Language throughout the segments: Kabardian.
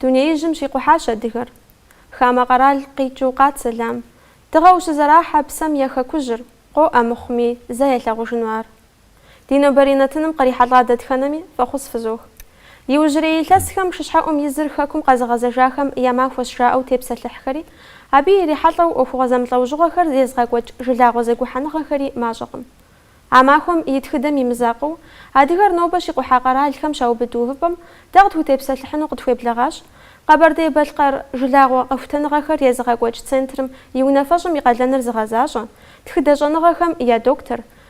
Дунеижьым щикъухьащ адыгэр. Хамэ къэрал къикӏыу къат сэлам. Дыгъэу щызэрахьэ псэм я хэкужьыр, къоӏэ мыхъуми, зэ ялъагъужыну ар. Ди нобэрей нэтыным кърихьэлӏа дэтхэнэми фӏэхъус фызох. Иужьрей илъэсхэм шыщхьэӏум и зыр хэкум къэзыгъэзэжахэм я махуэщ жаӏэу тепсэлъыхьхэри, абы ирихьэлӏэу ӏуэхугъуэ зэмылӏэужьыгъуэхэр езыгъэкӏуэкӏ жылагъуэ зэгухьэныгъэхэри мащӏэкъым. А махуэм и тхыдэм и мызакъыу, адыгэр нобэ щикъухьа къэралхэм щаубыд увыпӏэм дэ къытхутепсэлъыхьыну къытхуеблэгъащ Къэбэрдей-Балъкъэр жылагъуэ къэхутэныгъэхэр езыгъэкӏуэкӏ центрым и унафэщӏым и къалэныр зыгъэзащӏэ, тхыдэ щӏэныгъэхэм я доктор,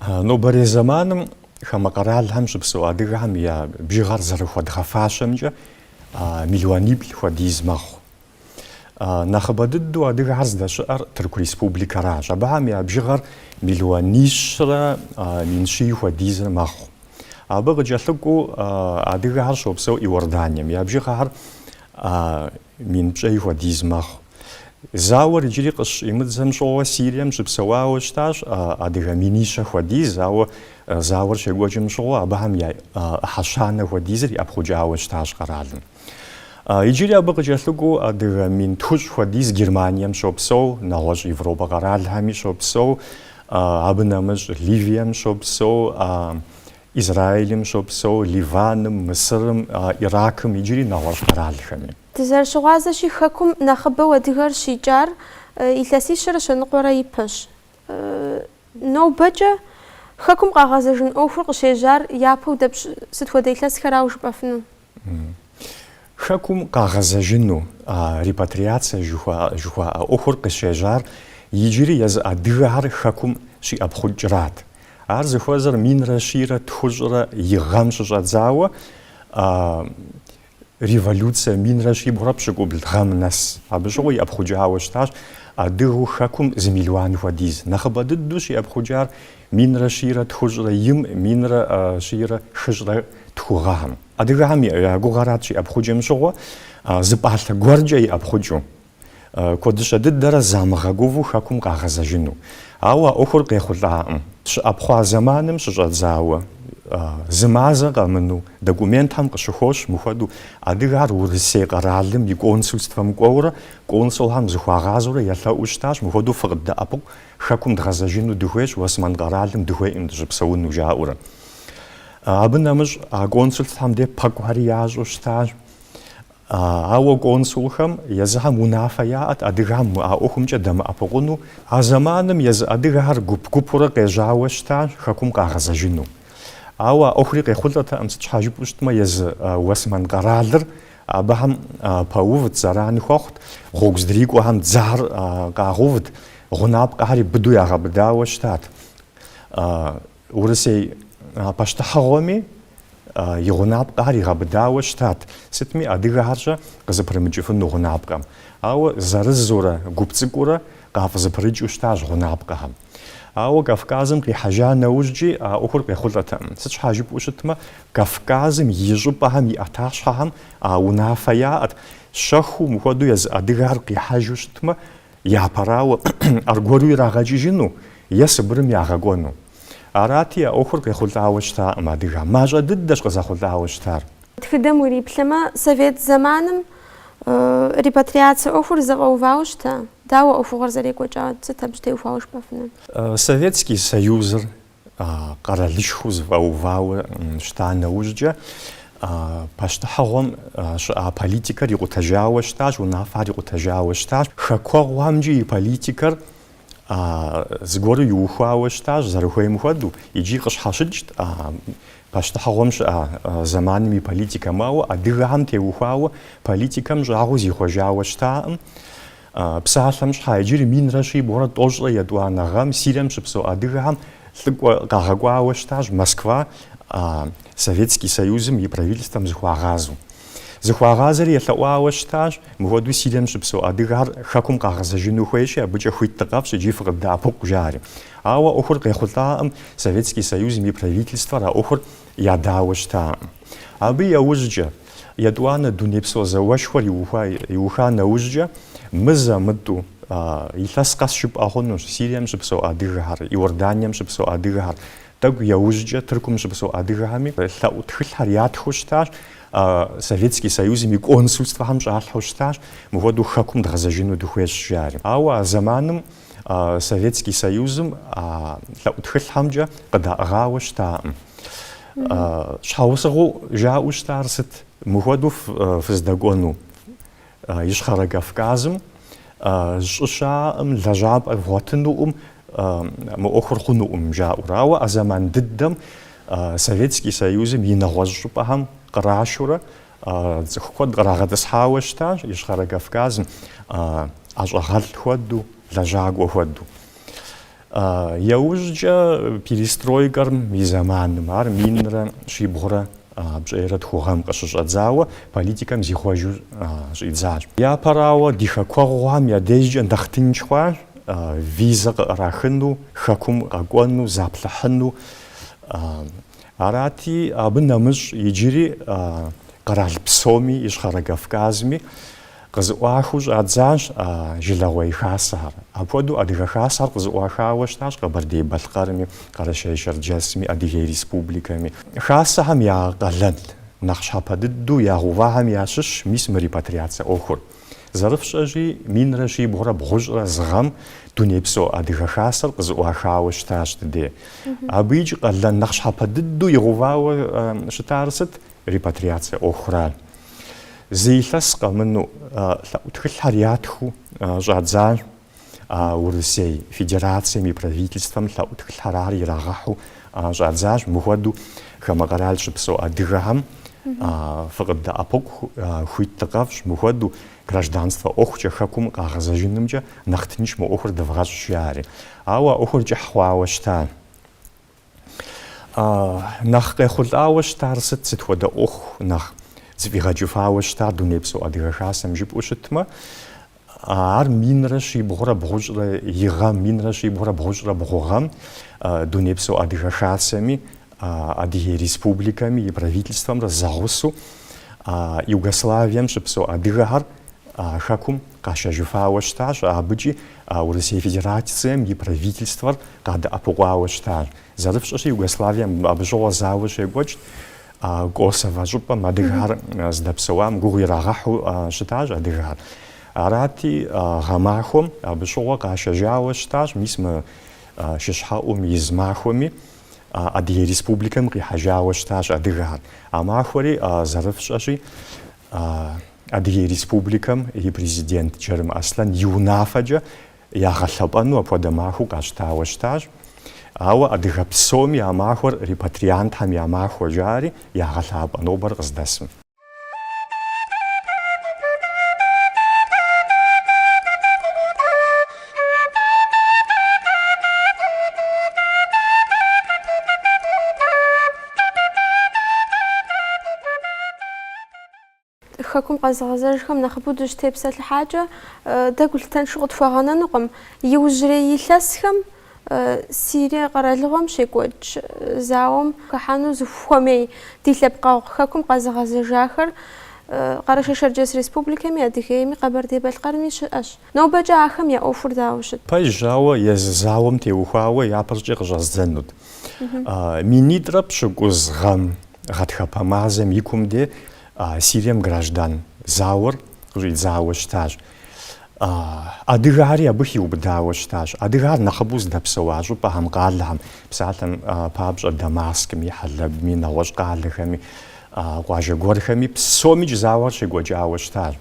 Нобэрей зэманым хамэ къэралхэм щыпсэу адыгэхэм я бжыгъэр зэрыхуэдгъэфащэмкӏэ миллиониплӏ хуэдиз мэхъу. Нэхъыбэ дыдэу адыгэхэр здэщыӏэр Тырку Республикэращ. Абыхэм я бжыгъэр миллионищрэ мин щий хуэдизыр мэхъу. Абы къыкӏэлъыкӏуэу адыгэхэр щопсэу Иорданием. Я бжыгъэхэр Мин пщӏей хуэдиз мэхъу. Зауэр иджыри къыщӏимыдзэм щыгъуэ Сирием щыпсэуауэ щытащ адыгэ минищэ хуэдиз, ауэ зауэр щекӏуэкӏым щыгъуэ абыхэм я ӏыхьэ щанэ хуэдизыр иӏэпхъукӏауэ щытащ къэралым. Иджыри абы къыкӏэлъыкӏуэу адыгэ мин тхущӏ хуэдиз Германием щопсэу, нэгъуэщӏ Европэ къэралхэми щопсэу, абы нэмыщӏ Ливием щопсэу, Израилым щопсэу, Ливаным, Мысырым, Иракым иджыри нэгъуэщӏ къэралхэми. Дызэрыщыгъуазэщи, Хэкум нэхъыбэу адыгэр щикӏар илъэсищэрэ щэныкъуэрэ ипэщ. Нобэкӏэ Хэкум къагъэзэжын ӏуэхур къыщежьар япэу дапщэщ, сыт хуэдэ илъэсхэрауэ жыпӏэфыну? Хэкум къагъэзэжыну а репатриацэ жыхуаӏэ ӏуэхур къыщежьар иджыри езы адыгэхэр Хэкум щиӏэпхъукӏрат. Ар зыхуэзэр минрэ щийрэ тхущӏрэ и гъэм щыщӏэдзауэ, а революцэ минрэ щибгъурэ пщыкӏубл гъэм нэс. Абы щыгъуэ иӏэпхъукӏауэ щытащ адыгэу Хэкум зы мелуан хуэдиз. Нэхъыбэ дыдэу щиӏэпхъукӏар Минрэ щийрэ тхущӏрэ им, минрэ щийрэ хыщӏрэ тху гъэхэм. Адыгэхэм я гугъэрат щиӏэпхъукӏым щыгъуэ, зы пӏалъэ гуэркӏэ иӏэпхъукӏыу, куэдыщэ дыдэрэ замыгъэгуву хэкум къагъэзэжыну. Ауэ а ӏуэхур къехъулӏаӏым. Щыӏэпхъуа зэманым щыщӏэдзауэ, зы мазэ къэмынэу, документхэм къыщыхощ мыхуэдэу адыгэхэр Урысей къэралым и консульствэм кӏуэурэ, консулхэм зыхуагъазэурэ елъэӏуу щытащ, мыхуэдэу фыкъыддэӏэпыкъу, Хэкум дгъэзэжыну дыхуейщ, Уэсмэн къэралым дыхуейкъым дыщыпсэуну жаӏэурэ. Абы нэмыщӏ а консулхэм де пэкӏухэри ящӏу щытащ. Ауэ консулхэм езыхэм унафэ яӏэт адыгэхэм а ӏуэхумкӏэ дэмыӏэпыкъуну. А зэманым езы адыгэхэр гуп-гупурэ къежьауэ щытащ Хэкум къагъэзэжыну. Ауэ а ӏуэхури къехъулӏэтэкъым, сыт щхьэ жыпӏэу щытмэ, езы Уэсмэн къэралыр Абыхэм пэувт, зэрани хуэхъут, гъуэгу здрикӏуэхэм дзэхэр къагъэувт, гъунапкъэхэри быдэу ягъэбыдауэ щытат. Урысей пащтыхьыгъуэми и гъунапкъэхэр игъэбыдауэ щытат, сытми адыгэхэрщэ къызэпрымыкӏыфыну гъунапкъэм. Ауэ зырызурэ гуп цӏыкӏуурэ къафӏызэпрыкӏыу щытащ гъунапкъэхэм. Ауэ Кавказым къихьэжа нэужькӏи а ӏуэхур къехъулӏэтэкъым. Сыт щхьа жыпӏэу щытмэ, Кавказым и щӏыпӏэхэм и ӏэтащхьэхэм а унафэ яӏэт, щэхуу мыхуэдэу езы адыгэхэр къихьэжу щытмэ, япэрауэ, аргуэру ирагъэкӏыжыну е Сыбырым ягъэкӏуэну. Арати, а ӏуэхур къехъулӏауэ щытакъым адыгэм. Мащӏэ дыдэщ къызэхъулӏауэ щытар. Тхыдэм уриплъэмэ, совет зэманым репатриацэ ӏуэхур зэфӏэувауэ щыта? Дауэ ӏуэхугъуэр зэрекӏуэкӏа? Сыт абы щэ теухуауэ жыпӏэфынур? Советский Союзыр къэралышхуэу зэфӏэувауэ щыта нэужькӏэ, пащтыхьыгъуэм щыӏа политикэр икъутэжауэ щытащ, унафэхэр икъутэжауэ щытащ. Хэкуэгъухэмкӏи и политикэр а зыгуэру иухуауэ щытащ зэрыхуейм хуэдэу икӏи къыщхьэщыкӏт а пащтыхьыгъуэм щыӏа зэманым и политикэм. Ауэ адыгэхэм теухуауэ политикэм щӏагъуэу зихъуэжауэ щытакъым. Псалъэм щхьа иджыри минрэ щибгъурэ тӏощӏрэ етӏуанэ гъэм Сирием щыпсэу адыгэхэм лӏыкӏуэ къагъэкӏуауэ щытащ Москва а Советский Союзым и правительствэм зыхуагъазэу. Зыхуагъазэри елъэӏуауэ щытащ, мыхуэдэу Сирием щыпсэу адыгэхэр Хэкум къагъэзэжыну хуейщи, абыкӏэ хуит дыкъэфщӏ икӏи фыкъыддэӏэпыкъу, жари. Ауэ ӏуэхур къехъулӏакъым, Советский Союзым и Правительствэр а ӏуэхур ядауэ щытакъым. Абы яужькӏэ, етӏуанэ дунейпсо зауэшхуэр иуха нэужькӏэ, мызэ-мытӏу, илъэс къэс жыпӏэ хъунущ, Сирием щыпсэу адыгэхэр, Иорданием щыпсэу адыгэхэр, Тӏэкӏу яужькӏэ Тыркум щыпсэу адыгэхэми лъэӏу тхылъхэр ятхыу щытащ, Советский Союзым и консульствэхэм щӏалъхьэу щытащ, мыхуэдэу хэкум дгъэзэжыну дыхуейщ жари. Ауэ а зэманым Советский Союзым лъэӏу тхылъхэмкӏэ къыдаӏыгъауэ щытакъым. Щхьэусыгъуэу жаӏэу щытар сыт, мыхуэдэу фыздэкӏуэну? Ищхъэрэ Кавказым щӏы щаӏэкъым, лэжьапӏэ вгъуэтынукъым, мы ӏуэхур хъунукъым жаӏэурэ. Ауэ а зэман дыдэм Советский Союзым и нэгъуэщӏ щӏыпӏэхэм кърашурэ цӏыху куэд кърагъэтӏысхьауэ щытащ Ищхъэрэ Кавказым, ӏэщӏагъэлӏ хуэдэу, лэжьакӏуэ хуэдэу. Яужькӏэ перестройкэр и зэманым, ар минрэ щибгъурэ пщӏейрэ тху гъэм къыщыщӏэдзауэ, политикэм зихъуэжу щӏидзащ. Япэрауэ, ди хэкуэгъухэм я дежкӏэ нэхъ тынш хъуащ, визэ къыӏэрахыну, Хэкум къэкӏуэну, заплъыхьыну. Арати, абы нэмыщӏ иджыри къэрал псоми, Ищхъэрэ Кавказми, Къызыӏуахыу щӏадзащ жылэгъуей хасэхэр. Апхуэдэу Адыгэ Хасэхэр къызыӏуахауэ щытащ Къэбэрдей-Балъкъэрми, Къэрэшей-Шэрджэсми, Адыгей Республикэми. Хасэхэм я къалэн нэхъ щхьэпэ дыдэу ягъэувахэм ящыщщ мис мы репатриацэ ӏуэхур. Зэрыфщӏэщи, минрэ щибгъурэ бгъущӏрэ зы гъэм Дунейпсо Адыгэ Хасэр къызыӏуахауэ щытащ ди дей. Абыикӏ къалэн нэхъ щхьэпэ дыдэу игъэувауэ щытар сыт? Репатриацэ ӏуэхуращ. Зы илъэс къэмыну лъэӏу тхылъхэр ятхыу щӏадзащ Урысей Федерацием и Правительствэм лъэӏу тхылъхэр ар ирагъэхьу щӏадзащ. Мыхуэду хамэ къэрал щыпсэу адыгэхэм фыкъыддэӏэпыкъу хуит дыкъэфщӏ, мыхуэду гражданствэ ӏуэхукӏэ хэкум къагъэзэжынымкӏэ нэхъ тынш мы ӏуэхур дывгъэщӏ, жари. Ауэ ӏуэхур кӏыхь хъуауэ щыта. А нэхъ къехъулӏауэ щытар сыт, сыт хуэдэ ӏуэху нэхъ зэфӏигъэкӏыфауэ щытар Дунейпсо Адыгэ Хасэм жыпӏэу щытмэ, ар минрэ щибгъурэ бгъущӏрэ и гъэм, минрэ щибгъурэ бгъущӏрэ бгъу гъэм Дунейпсо Адыгэ Хасэми, Адыгей Республикэми и Правительствэмрэ зэгъусэу Югославием щыпсэу адыгэхэр Хэкум къашэжыфауэ щытащ, абыкӏи А Урысей Федерацием и Правительствэр къадэӏэпыкъуауэ щытащ. Зэрыфщӏэщи, Югославием абы щыгъуэ зауэ щекӏуэкӏт, Косово щӏыпӏэм адыгэхэр здэпсэуам гугъу ирагъэхьу щытащ адыгэхэр. Арати, гъэмахуэм абы щыгъуэ къашэжауэ щытащ, мис мы шыщхьэӏум и зы махуэми Адыгей Республикэм къихьэжауэ щытащ адыгэхэр. А махуэри зэрыфщӏэщи, Адыгей Республикэм и Президент Джарым Аслъэн и унафэкӏэ ягъэлъэпӏэну апхуэдэ махуэу къащтауэ щытащ. Ауэ адыгэ псоми а махуэр репатриантхэм я махуэ жари ягъэлъапӏэ нобэр къыздэсым. Хэкум къэзыгъэзэжхэм нэхъыбэу дыщытепсэлъыхьакӏэ, дэ гулъытэншэу къытхуэгъэнэнукъым. Иужьрей илъэсхэм Сирие къэралыгъуэм щекӏуэкӏ зауэм хыхьэну зыхуэмей ди лъэпкъэгъу Хэкум къэзыгъэзэжахэр Къэрэшей-Шэрджэс Республикэми, Адыгейми, Къэбэрдей-Балъкъэрми щыӏэщ. Нобэкӏэ ахэм я ӏуэхур дауэ щыт? Пэжщ, ауэ езы зауэм теухуауэ япэркӏэ къыщӏэздзэнут. Минитӏрэ пщыкӏуз гъэм гъатхэпэ мазэм и кум де Сирием граждан зауэр къыщӏидзауэ щытащ. Адыгэхэри абы хиубыдауэ щытащ. Адыгэхэр нэхъыбэу здэпсэуа щӏыпӏэхэм, къалэхэм, псалъэм папщӏэ, Дамаскми, Хьэлэбми, нэгъуэщӏ къалэхэми, къуажэ гуэрхэми, псомикӏ зауэр щекӏуэкӏауэ щытащ.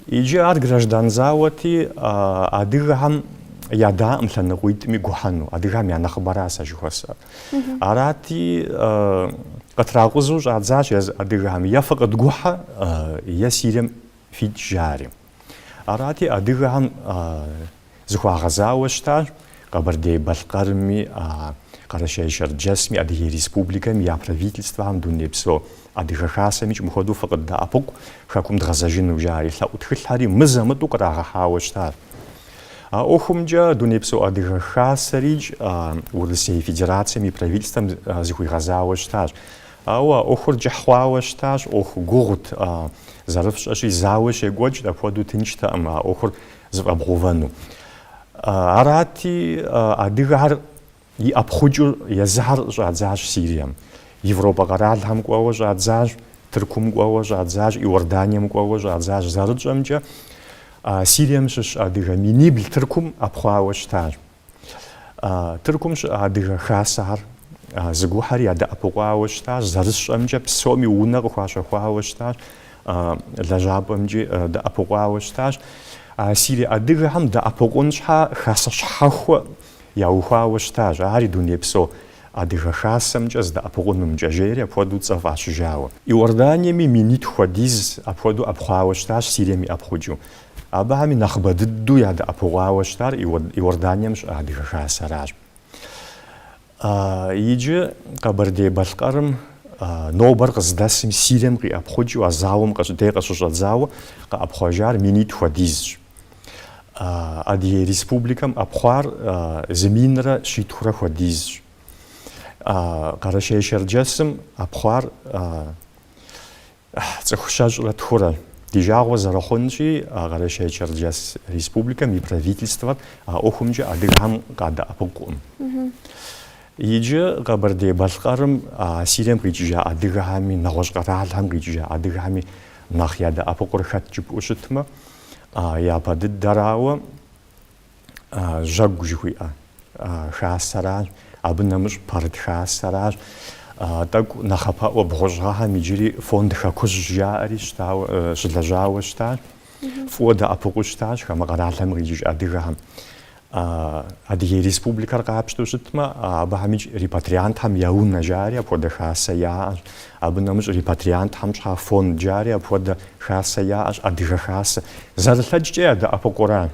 Иджы ар граждан зауэти, адыгэхэм ядаӏым лъэныкъуитӏми гухьэну, адыгэхэм я нэхъыбэра сэ жыхуэсӏэр. Арати, къытракъузу щӏадзащ езы адыгэхэм е фыкъыдгухьэ, е Сирием фикӏ жари. Арати, адыгэхэм Зыхуагъэзауэ щытащ Къэбэрдей-Балъкъэрми, Къэрэщей-Шэрджэсми, Адыгей Республикэми я Правительствэхэм Дунейпсо Адыгэ Хасэмикӏ мыхуэдэу фыкъыддэӏэпыкъу Хэкум дгъэзэжыну жари, лъэӏу тхылъхьэри мызэ-мытӏэу кърагъэхьауэ щытащ. А ӏуэхумкӏэ Дунейпсо Адыгэ Хасэрикӏ Урысей Федерацэм и Правительствэм зыхуигъэзауэ щытащ. Ауэ а ӏуэхур кӏыхь хъуауэ щытащ, ӏуэху гугъут, зэрыфщӏэщи, зауэ щекӏуэкӏт, апхуэдэу тынштэкъым а ӏуэхур зэфӏэбгъэувэну. Арати, адыгэхэр иӏэпхъукӏыу езыхьэр щӏадзащ Сирием, Европэ къэралхэм кӏуэуэ щӏадзащ, Тыркум кӏуэуэ щӏадзащ, Иорданием кӏуэуэ щӏадзащ. Зэрытщӏэмкӏэ, Сирием щыщ адыгэ минибл Тыркум ӏэпхъуауэ щытащ. Тыркум щыӏэ Адыгэ Хасэхэр зыгухьэри ядэӏэпыкъуауэ щытащ, зэрысщӏэмкӏэ псоми унэ къыхуащэхуауэ щытащ, лэжьапӏэмкӏи дэӏэпыкъуауэ щытащ. Сирие адыгэхэм дэӏэпыкъун щхьа Хасэ щхьэхуэ яухуауэ щытащ, ари дунейпсо Адыгэ Хасэмкӏэ зэдэӏэпыкъунымкӏэ, жери апхуэдэу цӏэ фӏащыжауэ. Иорданиеми минитӏ хуэдиз апхуэдэу ӏэпхъуауэ щытащ, Сирием иӏэпхъукӏыу. Абыхэми нэхъыбэ дыдэу ядэӏэпыкъуауэ щытар Иорданием щыӏэ Адыгэ Хасэращ. Иджы Къэбэрдей-Балъкъэрым нобэр къыздэсым Сирием къиӏэпхъукӏыу а зауэм къыщ- дей къыщыщӏэдзауэ къэӏэпхъуэжар минитӏ хуэдизщ. Адыгей Республикэм ӏэпхъуар зы минрэ щитхурэ хуэдизщ. Къэрэщей-Шэрджэсым ӏэпхъуар Ыхьы, цӏыху щэщӏрэ тхурэ. Ди жагъуэ зэрыхъунщи, а Къэрэщей-Черджэс Республикэм и Правительствэр а ӏуэхумкӏэ адыгэхэм къадэӏэпыкъукъым. Иджы Къэбэрдей-Балъкъэрым а Сирием къикӏыжа адыгэхэми, нэгъуэщӏ къэралхэм къикӏыжа адыгэхэми нэхъ ядэӏэпыкъур хэт жыпӏэу щытмэ, а япэ дыдэрауэ, жьэгу жыхуиӏэ хасэращ, абы нэмыщӏ пэрыт хасэращ, тӏэкӏу нэхъапэӏуэ бгъущӏ гъэхэм иджыри фонд хэкужь жаӏэри щылэжьауэ щытащ, фӏыуэ дэӏэпыкъуу щытащ хамэ къэралхэм къикӏыж адыгэхэм. Адыгей Республикэр къапщтэу щытмэ, абыхьэмикӏ репатриантхэм я унэ жари апхуэдэ хасэ яӏэщ, абы нэмыщӏ репатриантхэм щхьа фонд жари апхуэдэ хасэ яӏэщ, адыгэ хасэ. Зэрылъэкӏкӏэ ядэӏэпыкъура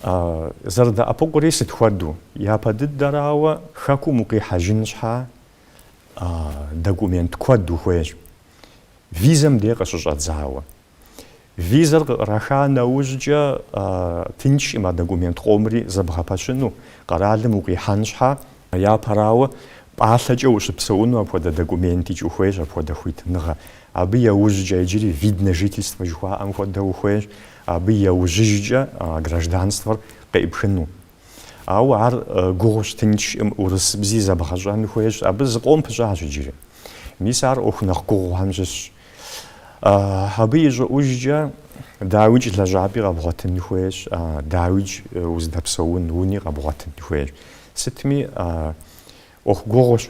Зэрыдэӏэпыкъури сыт хуэдэу? Япэ дыдэрауэ, хэкум укъихьэжын щхьа, документ куэд ухуейщ. Визэм дей къыщыщӏэдзауэ. Визэр къыӏэрыхьа нэужькӏэ тыншкъым а документ къомри зэбгъэпэщыну, къэралым укъихьэн щхьа. Япэрауэ, пӏалъэкӏэ ущыпсэуну апхуэдэ документикӏ ухуейщ, апхуэдэ хуитыныгъэ. Абы еужькӏэ иджыри вид на жительство жыхуаӏэм хуэдэ ухуейщ. абы яужьыжкӏэ а гражданствэр къеӏыпхыну. Ауэ ар гугъущ, тыншкъым, урысыбзи зэбгъэщӏэн хуейщ, абы зыкъом пыщӏащ иджыри. Мис ар ӏуэху нэхъ гугъухэм щыщщ. Абы и щӏыӏужкӏэ дауикӏ лэжьапӏи къэбгъуэтын хуейщ, дауикӏ уздэпсэун уни къэбгъуэтын хуейщ. Сытми ӏуэху гугъущ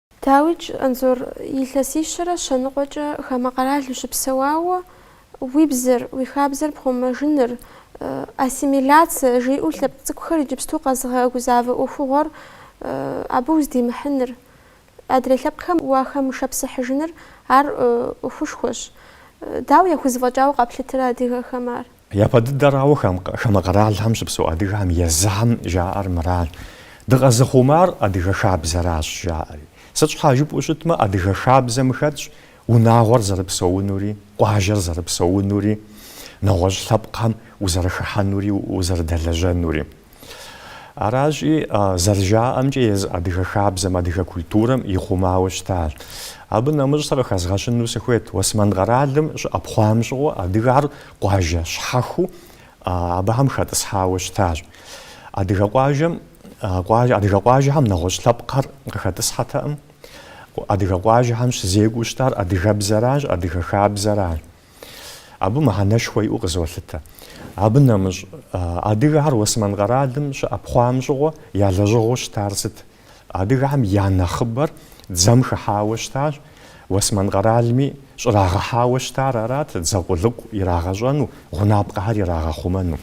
Дауикӏ Анзор, илъэсищэрэ щэныкъуэкӏэ хамэ къэрал ущыпсэуауэ, уи бзэр, уи хабзэр пхъумэжыныр, ассимиляцэ жиӏэу лъэпкъ цӏыкӏухэр иджыпсту къэзыгъэгузавэ ӏуэхугъуэр абы уздимыхьыныр, адрей лъэпкъхэм уахэмышэпсыхьыжыныр ар ӏуэхушхуэщ. Дауэ яхузэфӏэкӏауэ къэплъытэрэ адыгэхэм ар? Япэ дыдэрауэ хамэ къэралхэм щыпсэу адыгэхэм езыхэм жаӏэр мыращ, Дыкъэзыхъумар адыгэ хабзэращ жаӏэри. Сыт щхьа жыпӏэу щытмэ, адыгэ хабзэм хэтщ унагъуэр зэрыпсэунури, къуажэр зэрыпсэунури, нэгъуэщӏ лъэпкъхэм узэрыхыхьэнури узэрыдэлэжьэнури. Аращи, зэрыжаӏэмкӏэ, езы адыгэ хабзэм, адыгэ культурэм ихъумауэ щытащ. Абы нэмыщӏ сэ къыхэзгъэщыну сыхуейт, Уэсмэн къэралым щыӏэпхъуам щыгъуэ адыгэр къуажэ щхьэхуэу абыхэм хэтӏысхьауэ щытащ. Адыгэ къуажэм, адыгэ къуажэхэм нэгъуэщӏ лъэпкъхэр къыхэтӏысхьэтэкъым. Адыгэ къуажэхэм щызекӏуэу щытар адыгэбзэращ, адыгэ хабзэращ. Абы мыхьэнэшхуэ иӏэу къызолъытэ. Абы нэмыщӏ, адыгэхэр Уэсмэн къэралым щыӏэпхъуам щыгъуэ я лэжьыгъэу щытар сыт? Адыгэхэм я нэхъыбэр дзэм хыхьауэ щытащ, Уэсмэн къэралми щӏрагъэхьауэ щытар арат, дзэ къулыкъу ирагъэщӏэну, гъунапкъэхэр ирагъэхъумэну.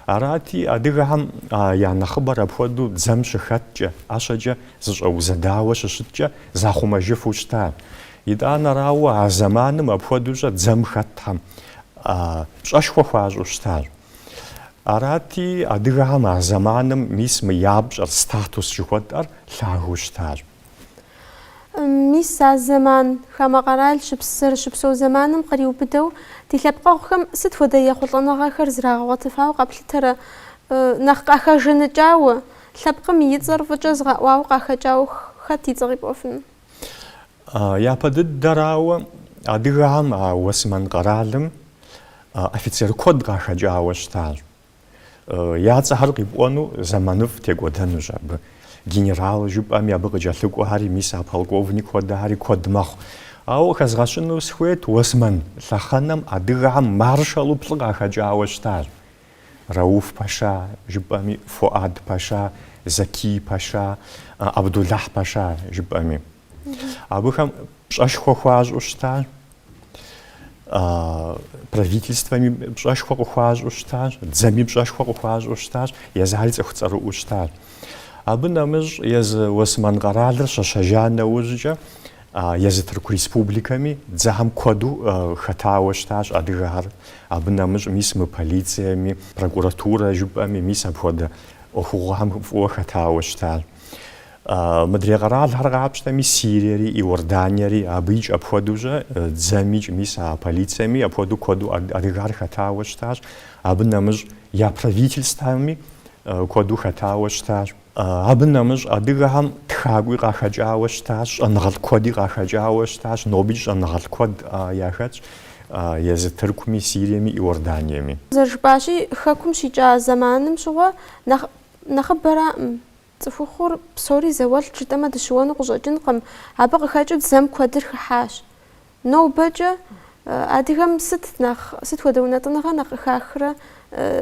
Арати, адыгэхэм я нэхъыбэр апхуэдэу дзэм щыхэткӏэ, ӏэщэкӏэ зыщӏэузэдауэ щыщыткӏэ захъумэжыфу щытащ. Итӏанэрауэ, а зэманым апхуэдэущӏэ дзэм хэтхэм пщӏэшхуэ хуащӏу щытащ. Арати, адыгэхэм а зэманым мис мы я пщӏэр, статус жыхуэтӏэр лъагэу щытащ. Мис а зэман, хамэ къэрал щыпс зэрыщыпсэу зэманым къриубыдэу, ди лъэпкъэгъухэм сыт хуэдэ ехъулӏэныгъэхэр зрагъэгъуэтыфауэ къэплъытэрэ? Нэхъ къахэжаныкӏауэ, лъэпкъым и цӏэр фӏыкӏэ зыгъэӏуауэ къахэкӏауэ хэт и цӏэ къипӏуэфыну? Япэ дыдэрауэ, адыгэхэм а Уэсмэн къэралым офицер куэд къахэкӏауэ щытащ. Я цӏэхэр къипӏуэну зэманыфӏ текӏуэдэнущ абы. Генерал жыпӏэми, абы къыкӏэлъыкӏуэхэри, мис а полковник хуэдэхэри куэд мэхъу. Ауэ къыхэзгъэщыну сыхуейт, Уэсмэн лъэхъэнэм адыгэхэм маршалу плӏы къахэкӏауэ щытащ. Рауф пэша, жыпӏэми, Фуад пэша, Закий пэша, Абдулахь пэша, жыпӏэми. Абыхэм пщӏэшхуэ хуащӏу щытащ, правительствэми пщӏэшхуэ къыхуащӏу щытащ, дзэми пщӏэшхуэ къыхуащӏу щытащ, езыхьэри цӏыху цӏэрыӏуэу щытащ. Абы нэмыщӏ езы Уэсмэн къэралыр щэщэжа нэужькӏэ Езы Тырку Республикэми дзэхэм куэду хэтауэ щытащ адыгэхэр. Абы нэмыщӏ мис мы полицэми, прокуратурэ жыпӏэми, мис апхуэдэ ӏуэхугъуэхэм фӏыуэ хэтауэ щытащ. Мыдрей къэралхэр къапщтэми, Сириери, Иорданиери абыикӏ апхуэдэущӏэ, дзэмикӏ мис а полицэми апхуэдэу куэду адыгэхэр хэтауэ щытащ. Абы нэмыщӏ я правительствэми куэду хэтауэ щытащ. Абы нэмыщӏ адыгэхэм тхакӏуи къахэкӏауэ щытащ, щӏэныгъэлӏ куэди къахэкӏауэ щытащ, нобикӏ щӏэныгъэлӏ куэд яхэтщ езы Тыркуми, Сириеми, Иорданиеми. Зэрыжыпӏащи, Хэкум щикӏа зэманым щыгъуэ нэхъ нэхъыбэраӏым. Цӏыхухъур псори зауэлӏт жытӏэмэ дыщыуэну къыщӏэкӏынкъым, абы къыхэкӏыу дзэм куэдыр хыхьащ. Нобэкӏэ адыгэм сыт нэхъ, сыт хуэдэ унэтӏыныгъэ нэхъ къыхахрэ,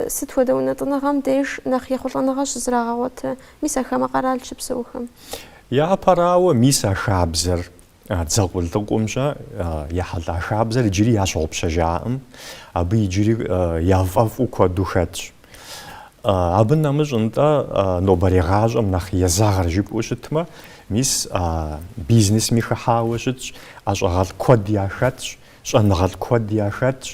сыт хуэдэ унэтӏыныгъэм деж нэхъ ехъулӏэныгъэ щызрагъэгъуэтэ, мис а хамэ къэрал щыпсэухэм? Япэрауэ, мис а хабзэр, а дзэ къулыкъумщӏэ ехьэлӏа хабзэр иджыри ящыгъупщэжаӏым, абы иджыри яфӏэфӏу куэду хэтщ. Абы нэмыщӏ нтӏэ нобэрей гъащӏэм нэхъ езэгъыр жыпӏэу щытмэ, мис бизнесми хыхьауэ щытщ, ӏэщӏагъэлӏ куэд яхэтщ, щӏэныгъэлӏ куэд яхэтщ.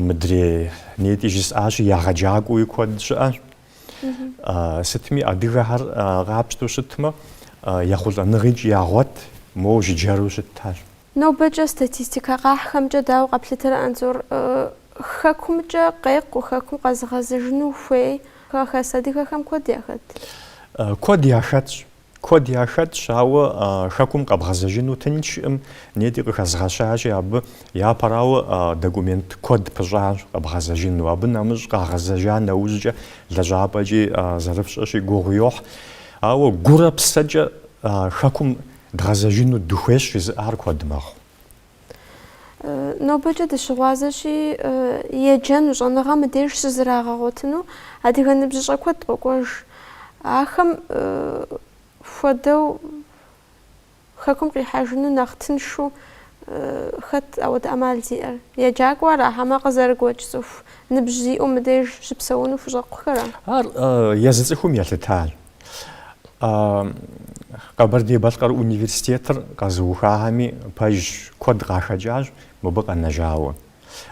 Мыдрей нетӏи жысӏащи, егъэджакӏуэуи куэд щыӏэщ. Сытми адыгэхэр къапщтэу щытмэ, ехъулӏэныгъикӏ ягъуэт, моуэ жыджэру щытащ. Нобэкӏэ статистикэ къахьхэмкӏэ дауэ къэплъытэрэ Анзор? Хэкумкӏэ къекъу, хэкум къэзыгъэзыжыну хуей хэхэс адыгэхэм куэд яхэт? Куэд яхэтщ. Куэд яхэтщ, ауэ хэкум къэбгъэзэжыну тынчкъым, нетӏи къыхэзгъэщащи абы. Япэрауэ, документ куэд пыщӏащ къэбгъэзэжыну. Абы нэмыщӏ къагъэзэжа нэужькӏэ лэжьапӏэкӏи зэрыфщӏэщи гугъу йохь. Ауэ гурэ псэкӏэ хэкум Дгъэзэжыну дыхуейщ жызыӏар куэд мэхъу. Нобэкӏэ дыщыгъуазэщи, еджэну щӏэныгъэ мыдеж щызрагъэгъуэтыну адыгэ ныбжьыщӏэ куэд къокӏуэж. Ахэм хуэдэу хэкум къихьэжыну нэхъ тыншу хэт ауэдэ ӏэмал зиӏэр? Еджакӏуэ ара, хьэмэ къызэрыгуэкӏ цӏыху ныбжь зиӏэу мыдеж щыпсэуну хущӏэкъухэра? Ар езы цӏыхум елъытащ. Къэбэрдей-Балъкъэр университетыр къэзыухахэми пэжщ, куэд къахэкӏащ мыбы къэнэжауэ.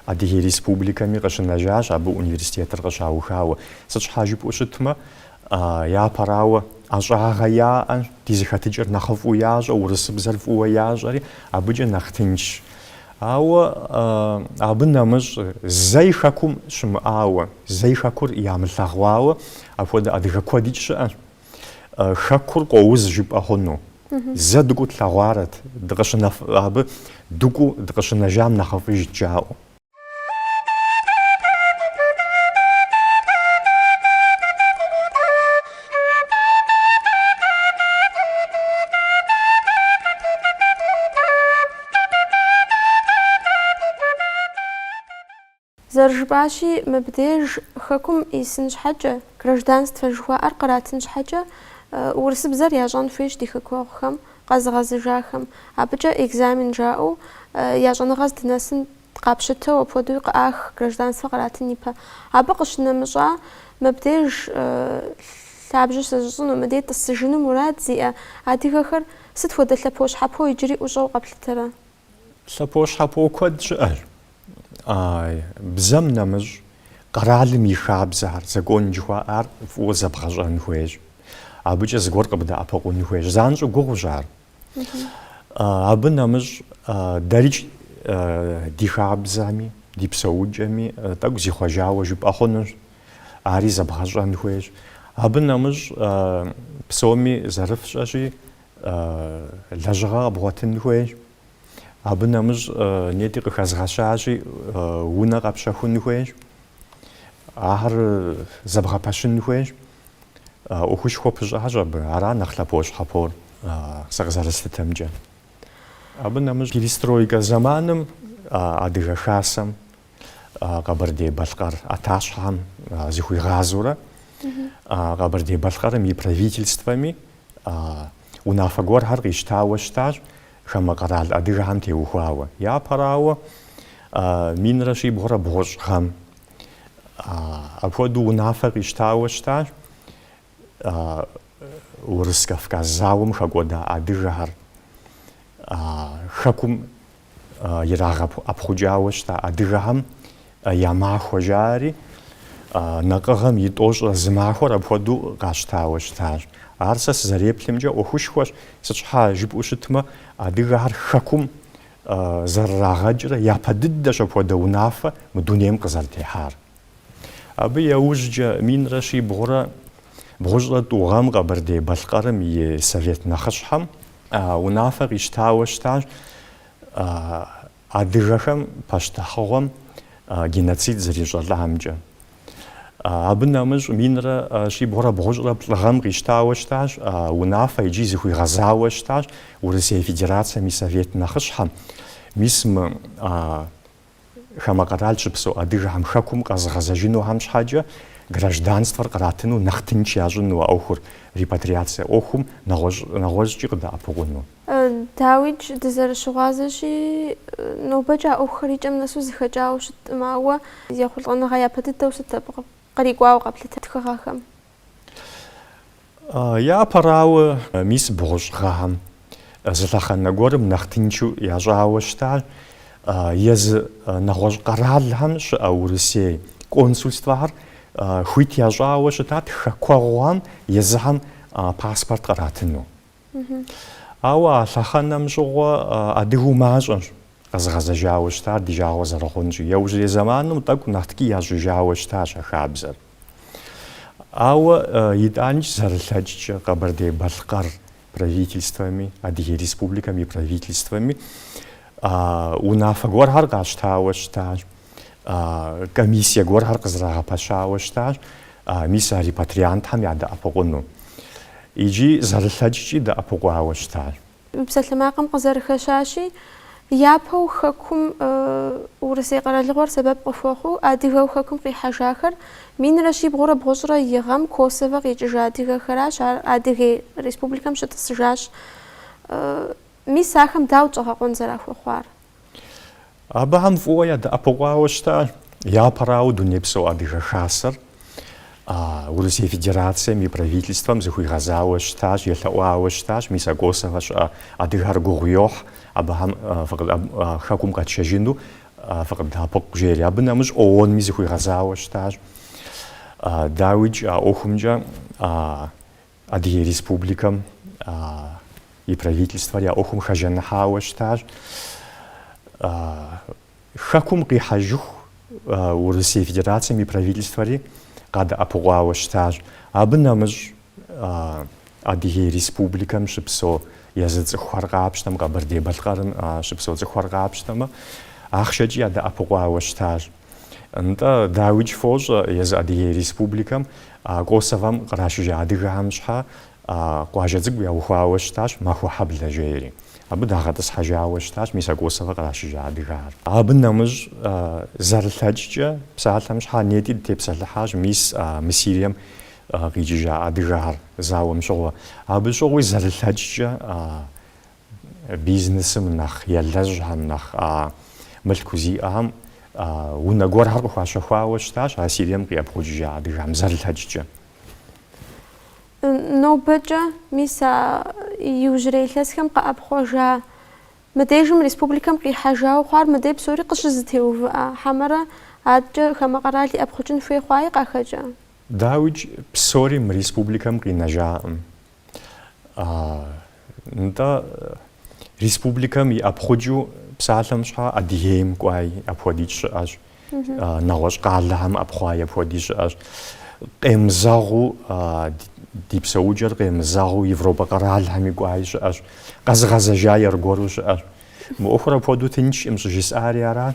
Адыгей Республикэми къыщынэжащ абы университетыр къыщаухауэ. Сыт щхьа жыпӏэу щытмэ, япэрауэ, ӏэщӏагъэ яӏэ, ди зэхэтыкӏэр нэхъыфӏу ящӏэ, урысыбзэр фӏыуэ ящӏэри, абыкӏэ нэхъ тыншщ. Ауэ абы нэмыщӏ зэи Хэкум щымыӏауэ, зэи Хэкур ямылъэгъуауэ апхуэдэ адыгэ куэдикӏ щыӏэщ. Хэкур къоуз жыпӏэ хъуну. Зэ дыкӏуэу тлъэгъуарэт, дыкъыщынэф, абы дыкӏуэу дыкъыщынэжам нэхъыфӏыжт жаӏэу. Зэрыжыпӏащи, мыбдеж Хэкум исын щхьэкӏэ, гражданствэ жыхуаӏэр къратын щхьэкӏэ, урысыбзэр ящӏэн хуейщ ди хэкуэгъухэм, къэзыгъэзыжахэм. Абыкӏэ экзамен жаӏэу я щӏэныгъэ здынэсын Къапщытэу апхуэдэуи къыӏах гражданствэ къратын ипэ. Абы къыщынэмыщӏа, мыбдеж лъабжьэ щызыщӏыну, мыдей тӏысыжыну мурад зиӏэ адыгэхэр сыт хуэдэ лъэпощхьэпо иджыри ӏущӏэу къэплъытэрэ? Лъэпощхьэпо куэдщ щыӏэр. Бзэм нэмыщӏ, къэралым и хабзэхэр, закон жыхуаӏар фӏыуэ зэбгъэщӏэн хуейщ. Абыкӏэ зыгуэр къыбдэӏэпыкъун хуейщ. Занщӏэу гугъущ ар. Абы нэмыщӏ дэрикӏ ди хабзэми, ди псэукӏэми тӏэкӏу зихъуэжауэ жыпӏэ хъунущ, ари зэбгъэщӏэн хуейщ. Абы нэмыщӏ псоми зэрыфщӏэщи, лэжьыгъэ къэбгъуэтын хуейщ. Абы нэмыщӏ нетӏи къыхэзгъэщащи, унэ къэпщэхун хуейщ, ахэр зэбгъэпэщын хуейщ. ӏуэхушхуэ пыщӏащ абы, ара нэхъ лъэпощхьэпор сэ къызэрыслъытэмкӏэ. Абы нэмыщӏ перестройкэ зэманым Адыгэ Хасэм Къэбэрдей-Балъкъэр ӏэтащхьэм зыхуигъазэурэ Къэбэрдей-Балъкъэрым и правительствэми унафэ гуэрхэр къищтауэ щытащ хамэ къэрал адыгэхэм теухуауэ. Япэрауэ, минрэ щибгъурэ бгъущӏ гъэм, Апхуэдэу унафэ къищтауэ щытащ Урыс-Кавказ зауэм хэкӏуэда адыгэхэр. Хэкум ирагъэӏэпхъукӏауэ щыта адыгэхэм я махуэ жаӏэри, накъыгъэм и тӏощӏрэ зы махуэр апхуэдэу къащтауэ щытащ. Ар сэ сызэреплъымкӏэ ӏуэхушхуэщ, сыт щхьэ жыпӏэу щытмэ, адыгэхэр хэкум зэрырагъэкӏрэ япэ дыдэщ апхуэдэ унафэ мы дунейм къызэрытехьар. Абы яужькӏэ минрэ щибгъурэ бгъущӏрэ тӏу гъэм Къэбэрдей-Балъкъэрым и Совет нэхъыщхьэм унафэ къищтауэ щытащ адыгэхэм пащтыхьыгъуэм геноцид зэрищӏэлӏамкӏэ. Абы нэмыщӏ минрэ щибгъурэ бгъущӏрэ плӏы гъэм къищтауэ щытащ, унафэ икӏи зыхуигъэзауэ щытащ Урысей Федерацэм и Совет нэхъыщхьэм. Мис мы хамэ къэрал щыпсэу адыгэхэм Хэкум къэзыгъэзэжынухэм щхьэкӏэ гражданствэр къратыну нэхъ тынч ящӏыну а ӏуэхур, репатриацэ ӏуэхум, нэгъуэщӏкӏи къыдэӏэпыкъуну. Дауикӏ, дызэрыщыгъуазэщи, нобэкӏэ а ӏуэхухэр и кӏэм нэсу зэхэкӏауэ щыткъым, ауэ ехъулӏэныгъэ япэ дыдэу сыт абы кърикӏуауэ къэплъыта тхыгъэхэм? Япэрауэ, мис бгъущӏ гъэхэм зы лъэхъэнэ гуэрым нэхъ тыншу ящӏауэ щытар езы нэгъуэщӏ къэралхэм щыӏэ Урысей консульствэхэр хуит ящӏауэ щытат хэкуэгъухэм езыхэм паспорт къратыну. Ауэ а лъэхъэнэм щыгъуэ адыгэу мащӏэщ къэзыгъэзэжауэ щытар ди жагъуэ зэрыхъунщи. Яужьрей зэманым тӏэкӏу нэхъ ткӏий ящӏыжауэ щытащ а хабзэр. Ауэ итӏаникӏ зэрылъэкӏкӏэ Къэбэрдей-Балъкъэр правительствэми, Адыгей Республикэм и правительствэми унафэ гуэрхэр къащтауэ щытащ. комиссие гуэрхэр къызэрагъэпэщауэ щытащ мис а репатриантхэм ядэӏэпыкъуну. Икӏи зэрылъэкӏкӏи дэӏэпыкъуауэ щытащ. Псалъэмакъым къызэрыхэщащи, япэу Хэкум Урысей къэралыгъуэр сэбэп къыхуэхъуу адыгэу Хэкум къихьэжахэр минрэ щибгъурэ бгъущӏрэ и гъэм Косово къикӏыжа адыгэхэращ, ар Адыгей Республикэм щытӏысыжащ. Мис ахэм дауэт щӏэгъэкъуэн зэрахуэхъуар? Абыхэм фӏыуэ ядэӏэпыкъуауэ щытащ, япэрауэ Дунейпсо Адыгэ Хасэр Урысей Федерацэм и Правительствэм зыхуигъэзауэ щытащ, елъэӏуауэ щытащ, мис а Косовэ щыӏэ адыгар гугъу йохь абыхэм Хэкум къэтшэжыну фыкъыддэӏэпыкъу жери. Абы нэмыщӏ ООН-ми зыхуигъэзауэ щытащ. Дауикӏ а ӏуэхумкӏэ Адыгей Республикэм и Правительствэри а ӏуэхум хэжаныхьауэ щытащ Хэкум къихьэжыху Урысей Федерацэм и Правительствэри къадэӏэпыкъуауэ щытащ. Абы нэмыщӏ Адыгей Республикэм щыпсэу езы цӏыхухэр къапщтэм, Къэбэрдей-Балъкъэрым щыпсэу цӏыхухэр къапщтэмэ, ахъшэкӏи ядэӏэпыкъуауэ щытащ. Нтӏэ, дауикӏ фощӏэ езы Адыгей Республикэм Косовэм кърашыжа адыгэхэм щхьэ къуажэ цӏыкӏу яухуауэ щытащ Махуэхьэблэ жери. Абы дагъэтӏысхьэжауэ щытащ мис а Косовэ кърашыжа адыгэхэр. Абы нэмыщӏ, зэрылъэкӏкӏэ, псалъэм щхьэ нетӏи дытепсэлъыхьащ мис мы Сирием къикӏыжа адыгэхэр зауэм щыгъуэ. Абы щыгъуи зэрылъэкӏкӏэ Бизнесым нэхъ елэжьхэм, нэхъ мылъку зиӏэхэм унэ гуэрхэр къыхуащэхуауэ щытащ а Сирием къиӏэпхъукӏыжа адыгам, зэрылъэкӏкӏэ. Нобэкӏэ, мис а иужьрей илъэсхэм къэӏэпхъуэжа, мыдежым республикэм къихьэжауэ хъуар мыдей псори къыщызэтеувыӏа хьэмэрэ адэкӏэ хамэ къэрал иӏэпхъукӏын хуей хъуаи къахэкӏа? Дауикӏ, псори мы республикэм къинэжакъым. Нтӏэ, республикэм иӏэпхъукӏыу псалъэм щхьэ Адыгейм кӏуай апхуэдикӏ щыӏэщ, нэгъуэщӏ къалэхэм ӏэпхъуай апхуэдикӏ щыӏэщ. Къемызэгъыу ди псэукӏэр къемызэгъыу Европэ къэралхэми кӏуай щыӏэщ, къэзыгъэзэжай аргуэру щыӏэщ. Мы ӏуэхур апхуэдэу тынчкъым щӏыжысӏари аращ.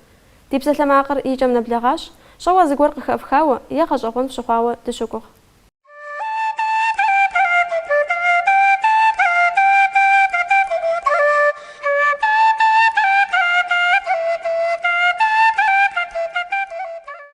Ди псалъэмакъыр и кӏэм нэблэгъащ, щӏэуэ зыгуэр къыхэфхауэ е гъэщӏэгъуэн фщыхъуауэ дыщогугъ.